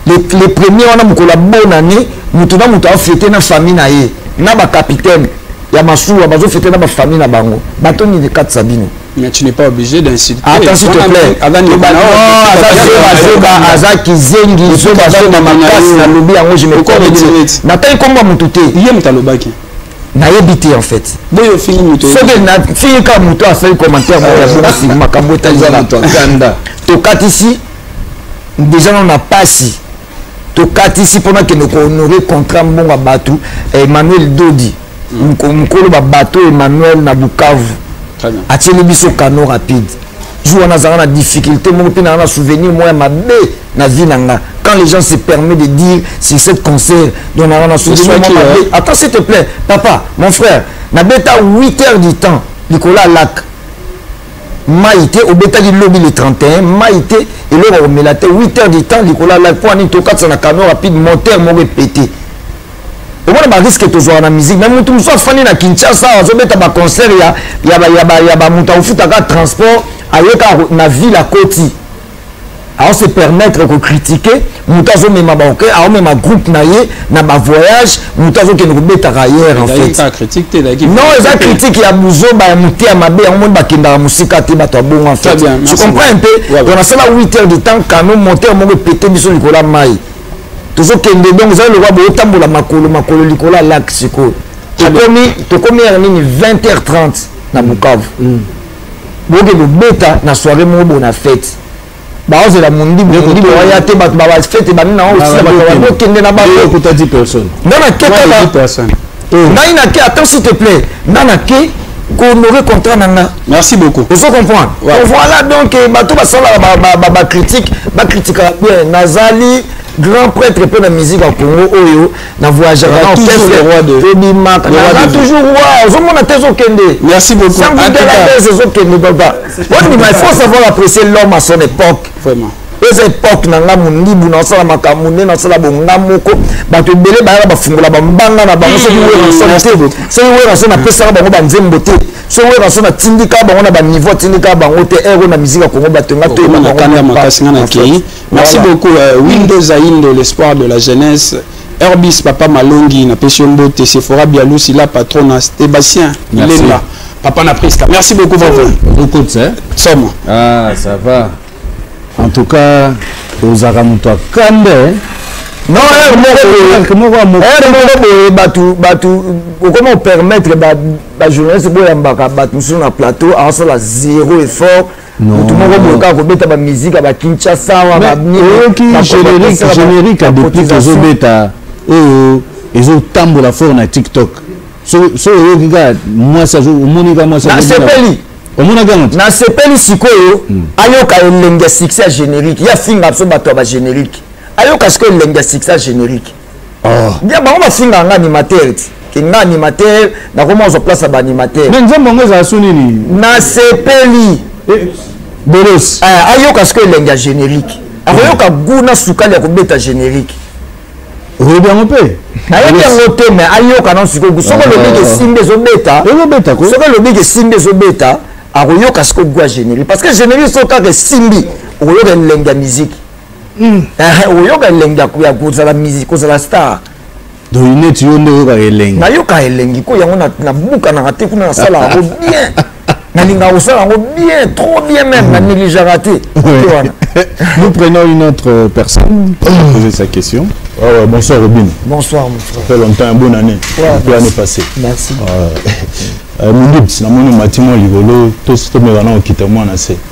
Speaker 3: le, le premier wana mokolo ya bonne année moto na moto afete na famille na ye na bacapitaine ya masuwa bazofete na bafamille na bango bato nini ekatisa bino Mais tu n'es pas obligé
Speaker 7: d'insulter.
Speaker 3: Attends, s'il te plaît. aza kizengi zoba zoba makasi na lobi yango je me connais natai komba motu te ye moto alobaki
Speaker 7: nayebi te
Speaker 3: en fait boyo ofingi moto
Speaker 7: soki nafingi
Speaker 3: kaka moto asali commentaire moko ya bongo makambo etali tokatisi deja nano na pasi tokatisi mpona kende kohonore contrat mbongo ya bato eh, emmanuel dodi mokolo babato emmanuel na bukavu atieli biso kano rapide jour wana azalaka na difficulté moko mpe naa na souvenir moko ya mabe na vie na nga quand les gens se permet de dire sur cette concert donc naa na souvenir moko mabe attends s'il te plaît papa mon frère nabeta 8 heures du temps likolo ya lake mai te obetaki lobi le 31 mai te eloko ya komela te 8 heures du temps likolo ya lake mpo anini tokatisa na camion rapide moteur moko epete omona bariske tozwaka na musique me motu mosusu afandi na kinshasa azobeta baconcert ya bamoto akofutaka transport ayeka na ville akoti azo se permettre ko critiquer moto azo mema ba okay azo mema groupe na ye na ba voyage moto azo kende ko beta ailleurs en fait pas critique te
Speaker 7: laki non eza critique
Speaker 3: ya buzoba ya mote ya mabe yango moni bakendaka mosika te bato ya bongo en fait tu comprends un peu on a sala 8 heures de temps canon moteur moko epete biso likolo ya mai tozokende donc ezali lokola botambola makolo makolo likolo ya lac sikoyo tokomi tokomi ya nini 20 heures 30 na bukavu mm. boke kobeta na soirée moko boye na fete baozela mondibu waya te bato bafete bani na osila bato bani okende na bangonga
Speaker 4: naketaka
Speaker 7: ngai nake
Speaker 3: attends s'il te plaît nga nake kohonorer contrat na nga merci beaucoup ozo
Speaker 7: comprendre
Speaker 3: voilà donc eh, bato basalaka bacritique bakritikaka bien nazali grand prêtre mpe na musique ya congo oyo na voyageaka na orchestre
Speaker 7: tobimaka naza toujours
Speaker 3: wa ozomona te ezokende merci beaucoup
Speaker 7: sangudelades
Speaker 3: ezokende baba ondima il faut savoir apprécier l'homme à son époque vraiment eza
Speaker 7: epoke na
Speaker 3: ngai mondibu nasala makambo nde nasala bonga moko bato ebele bayaka bafungola bambanga na bango soki werasona te soki werasona apesaka bango banzembo te soki werasona atindika bango na baniveau atindika bango te ero na miziki ya kongo bato nga toyeba bango
Speaker 7: Merci voilà. beaucoup euh, Windows Aindo l'espoir de la jeunesse Herbis papa Malongi na pesio mbote Sephora Bialusi la patrona Sébastien Lemba papa na Prisca merci beaucoup vraiment beaucoup ça
Speaker 4: somo ah
Speaker 7: ça va
Speaker 4: en tout cas ozaka moto akande eh? non
Speaker 3: heure moko moko ya moko heure moko boye bato bato okoma opermettre bajournaliste boyambaka bato mosusu na plateau aosala zéro effort mutu moko boye kaka kobeta bamiziki ya bakinshasa wa baoyoki générique
Speaker 4: générique ya deplique ezobeta oyo ezotambola fort na tiktok so oyoki kaka mwasi omoni kaka mwasi nasepeli omonaki yango
Speaker 3: nasepeli sikoyo hmm. ayoka elengi ya succès ya générique ya finga biso bato ya bagénérique ayoka sikoyo elengi ya succès ya générique oh. bia bango bafingaka nga animateur ti ke nga animateur nakoma ozwa place ya baanimateur
Speaker 4: me
Speaker 3: nzembo yango ezala
Speaker 4: so
Speaker 3: nini nasepeli eh,
Speaker 4: bolos eh, ayoka sikoyo
Speaker 3: elengi ya générique akoyoka gu na sukali ya kobeta générique oyebi
Speaker 4: yango mpe nayebi yango te
Speaker 3: me ayoka nano sikoyo soki ah. olobiki esimbi ezobeta soki olobiki
Speaker 4: esimbi
Speaker 3: ezobeta akoyoka sikoyo gu ya générique parce que générique soki kaka esimbi okoyoka elengi ya miziki hmm. eh, eh, oyoka elengi ya kozala musique kozala star donc neti
Speaker 4: yo nde oyokaka elengi nayoka elengi ko
Speaker 3: yango nabukanaka te kuna nasalaka yango bien nalingaka kosala yango bien trop bien même hmm. na négligeaka te wana
Speaker 4: nous prenons une autre euh, personne pour hmm. poser sa question ah ouais, bonsoir robin bonsoir mon frère fait
Speaker 3: longtemps bonne année
Speaker 4: ouais, bonne année passée merci ah euh, mindibs namoni matimo likolo tosi tomeka na okita mwana se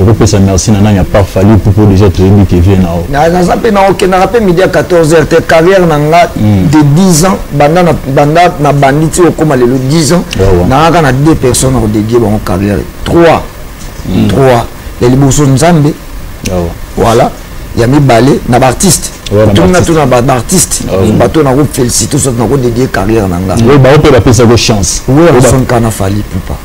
Speaker 4: okopesa merci na nani apart fali pupo déjà toyebi ke vie nao naza mpe naokendaka
Speaker 3: mpe midi ya 14 heure te carrière na nga hmm. de 10 ans banda na bandi ti okóma lelo 10 ans nangaka na deux personnes akodedie bango carrière 3 3 hmm. ya liboso nzambe voilà ya mibale na baartiste tuna tuna baartiste bato nako félicité soki nako dédie carrière na nga oyo baoyo mpe bapesako
Speaker 4: chance oyo basonka na
Speaker 3: fali pupa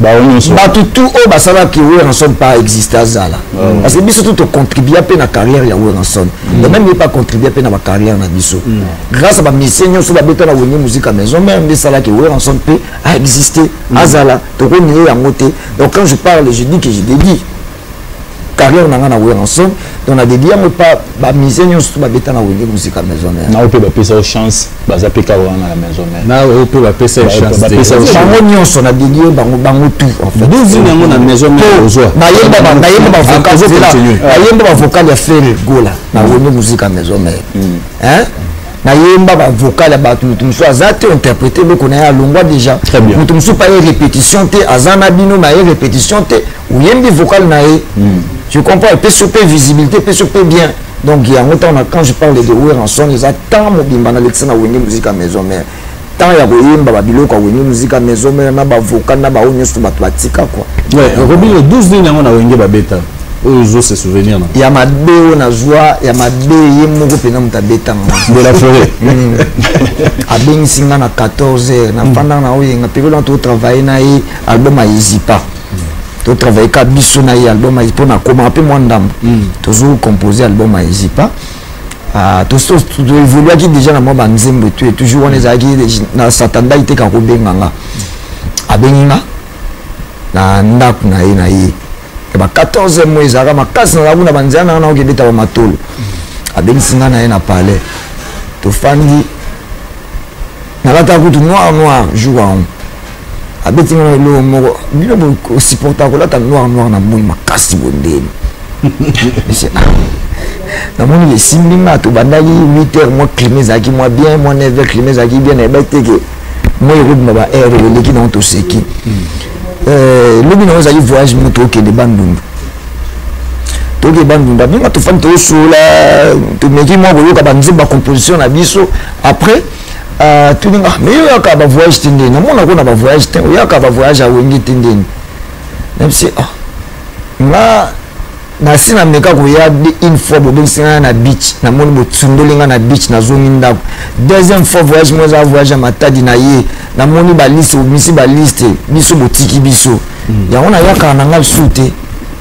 Speaker 3: bato tout oyo basalaki werrason pas existe azala ah parce que biso tout tocontribua mpe na carrière ya werrason mm. et même ye pas contribua mpe na bacarrière na biso mm. grâce ya bamisie nyonso babeta na wenge musique ya maison mère nde esalaki werrason mpe aexiste mm. azala tokonie yango te donc quand je parle je dis que je dédie carrière na nga na Werrason donc na dedi yango pa ba musée nyonso ba beta na wenge musika maison mère na ope ba pesa yo chance
Speaker 4: baza pe ka wana na maison mère na ope ba pesa yo chance ba pesa yo bango nyonso
Speaker 3: na dedi yo bango bango tout en fait deux ans yango na maison
Speaker 4: mère ozwa na yemba ba na yemba ba vocal
Speaker 3: na yemba ba vocal ya Ferre Gola na wenge musika maison mère mm. hein nayemba bavokale ya bato moto mosusu aza te interprete eloko na ye alongwa déjà moto mosusu pa ye répétition te aza na bino na ye répétition te oyembi vocal na ye hmm. je comprends epesi yo mpe visibilité epesi yo mpe bien donc yango ntango na quand je parle de weranson eza temps mobimba nalekisa na wenge musika maison mare temps ya koyemba babiloko ya wenge musika maison mare na bavocal na baoyo nyonso bato batika kua robino 12
Speaker 4: nini yango na wenge babeta oyo ozo se souvenir na ya mabe oyo
Speaker 3: nazwa ya mabe ye moko mpenza moto abetanga de la forêt
Speaker 4: hmm.
Speaker 3: abengisi nga na 14 heures nafandaka na oyenga periode wana totravaille na ye album ayizipa to travailler ka biso na ye album ya mpo na koma mpe mwa ndambo hmm. tozo compose album ya ezipa ah, toevoluaki déjà na mwa banzembo etu toujours wana ezalaki na satandaki te kakobenga nga abengi nga na ndako na ye na ye ya ba 14 mois ezalaka makasi nazala kuna banzela nanga nakoki ebeta bamatolo hmm. abengisi nga na ye na palais tofandi nalataka kutu noir noir jour yango abeti ngana eloko moko bino bosupporta kolata noir noir na moi makasi bondeni namoni lesimbi nga tobandaki 8 heures mwa clime ezalaki mwa bien mwa 9 heures clime ezalaki bien nayebaki te ke moi ekobima ba heure eleki nango toseki euh, lobi nango ezalaki voyage mo tokende bandundu toke bandunda bino tofandi toyosola tomeki mwa koyoka banzemba composition na biso après Ah, tuni nga mais yo yaka ba voyage te ndeni namona ko na ba voyage te oyaka ba voyage ya wenge te ndeni nabisi ah nga nasi na meka koya une fois bobengisi nga na beach namoni botsundoli nga na beach nazongi ndako deuxième fois voyage moko eza voyage ya matadi na ye namoni baliste obimisi baliste biso botiki biso hmm. yango nayakaka na nga lisusu te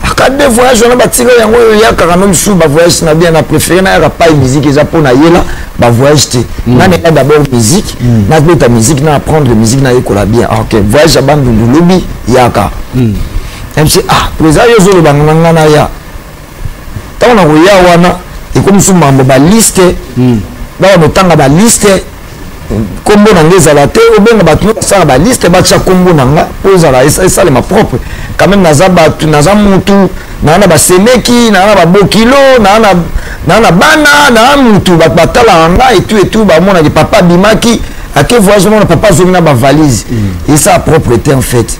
Speaker 3: aka de voyage wana batika yango oyo yakaka no mosusu bavoyage na bien na préféré nayaka pai musique eza mpo na yela bavoyage te mm. nanela d'abord musique mm. nabeta musique na apprendre musique nayekola bien ah, ok voyage ya bandundu lobi yaka mm. mc ah présa yo ozoloba na ngai naya ntango nakoya wana ekomi mosusu mambo baliste bawa notanga baliste nkombo na nga ezala te obenga bato nyonso basala baliste batya nkombo na nga mpo ezala esalema propre quand même naza bato naza mutu naa na basemeki naa na babokilo naa na bana naa mutu bato batalaka nga etu etu bamonaki papa abimaki ake voyage omona papa azongi na bavalise mm. esa propreté en fait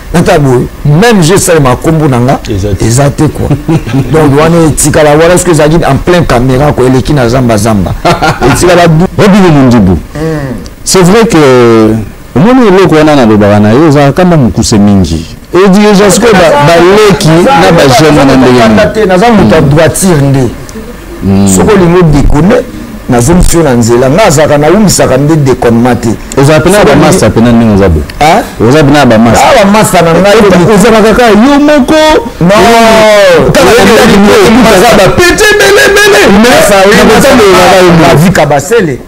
Speaker 3: nata boye même je esalemaka nkombo na nga eza te kua donc wana etikala wana soki ezalaki en plein caméra ko eleki na zamba zamba etikala obino
Speaker 4: mondibu hmm. c'est vrai que omoni eloko wana nalobaka na yo ezalaka kama mokuse mingi edirigence mpe baleki na bajeune wana ndenge nini naza moto ya droitire
Speaker 3: nde soki olingi odekone nazongisi yo na nzela nga azalaka nawumisaka nde deconement te ozala pena ya bamasta
Speaker 4: pena ndenge oza boye oza pena ya bamasta ah, bamasta na ngai
Speaker 3: ozalaka kaka yo
Speaker 4: moko bapete belebele
Speaker 3: mais avika basele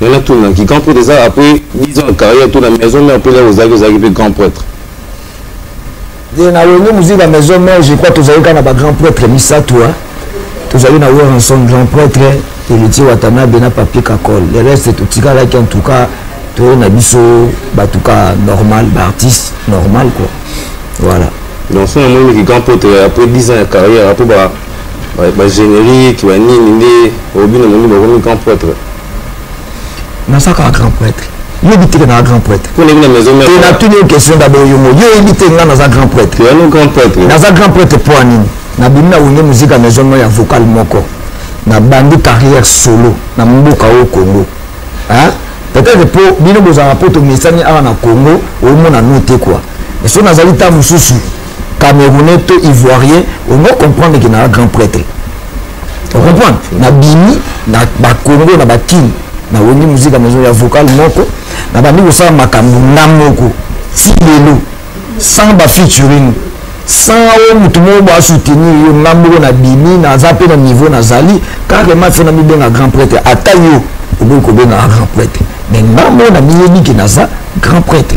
Speaker 8: nga natunaki grand prêtre eza après 10 ans ya carrière to na maison mère mpe lelo ozalaki ozalaki mpe grand prêtre
Speaker 3: ye na wenge moziki na maison mère je crois tozali kaka na bagrand prêtre misato tozali na weranson grand prêtre elitier watanabe na papier kakol le reste totikalaki en tout cas toyei na biso bato ka normal baartiste normal quoi voilà donc so namoni
Speaker 8: miki grand prêtre après 10 ans ya carrière apo ba ba générique ba nini nde obino moni bakomi grand prêtre
Speaker 3: naza kaka grand prêtre yebi teke naza grand prêtre te
Speaker 8: natuni yo question dabord
Speaker 3: yo moko yo oyebi te ngai naza grand prêtre
Speaker 8: naza grand prêtre mpo ya
Speaker 3: nini nabimi na wenge muzika maison moko ya vocal moko nabandi carrière solo na mboka oyo congo peut-être mpo bino bozalaka mpo tomesani awa na congo omona no te kua so nazali ntango mosusu camerounais to ivoirien ono comprendre ke naa grand prêtre ocomprendre na bimi na bakongo na bakini na wengi muzika maison ya vocal moko na bandi kosala makambo nga moko ti lelo sans bafeaturing sans oyo motu moko boasoutenir yo nga moko na bimi naza mpe na niveau nazali carrement se na mibenga grand prêtre ata yo okoki kobenga grand prêtre mais nga moko na miyebi ke naza grand prêtre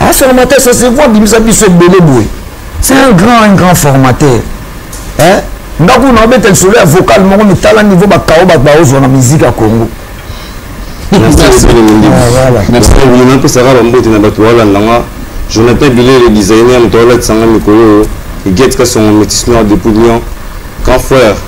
Speaker 3: Un formateur, ça se voit, bimisa biso ebele boye. C'est un grand, un grand formateur. Hein? ndako na obeta lisolo ya vocal moko mitala niveau bakao bato baozwa na miziki ya congo
Speaker 8: napesaka bambote na bato balandanga jonathan bilele designer moto alatisanga mikolo oyo egetika songo metis noir depuis lyon grand frère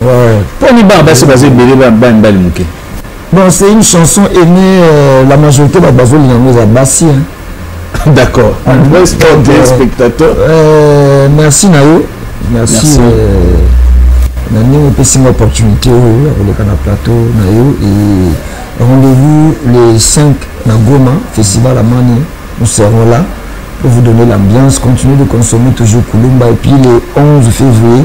Speaker 4: mpo
Speaker 3: ni bana basi
Speaker 4: baza ebele bana mibali moke bon c'est une
Speaker 3: chanson aimée euh, la majorité bato bazolinga yango eza basi d'accord
Speaker 4: ah, euh, spectateur euh, merci
Speaker 3: na yo merci na ndenge opesi nga opportunité oyo ya koleka na plateau na yo et rendez-vous le 5 na goma festival amani nous serons là pour vous donner l'ambiance. Continuez de consommer toujours Kulumba. Et puis le 11 février,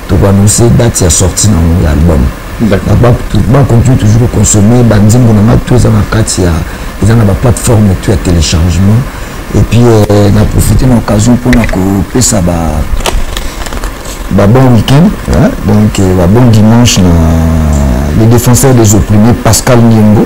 Speaker 3: toko annonce date ya sortie na yango ya album bakontinue toujours koconsomme banzembo na ngai to eza na kati ya eza na baplateforme to ya téléchargement et puis euh, na profite na occasion mpona kopesa ba ba bon week-end hein? donc euh, ba bon dimanche na le défenseur des opprimés pascal niengo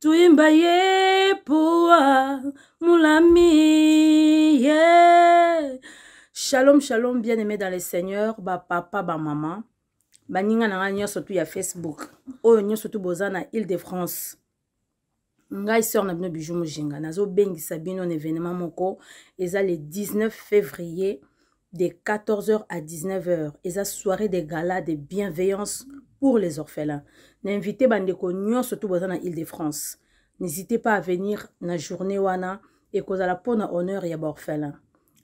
Speaker 4: Tuimba
Speaker 2: ye poa mulami ye. Shalom shalom bien aimé dans le Seigneur ba papa ba maman baninga na ngai nyonso tu ya Facebook oyo nyonso tu boza na Ile de France ngai sœur na bino bijou mojinga nazobengisa bino na événement moko eza le 19 février de 14h à 19h eza soirée de gala de bienveillance pour les orphelins na invité bandeko nyonso to boza na ile de france n'hésitez pas à venir na journée wana ekozala mpo na honneur ya baorphelin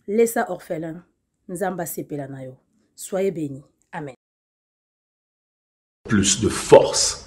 Speaker 2: lesa orphelin nzambe asepela na yo soyez béni amen
Speaker 9: plus de force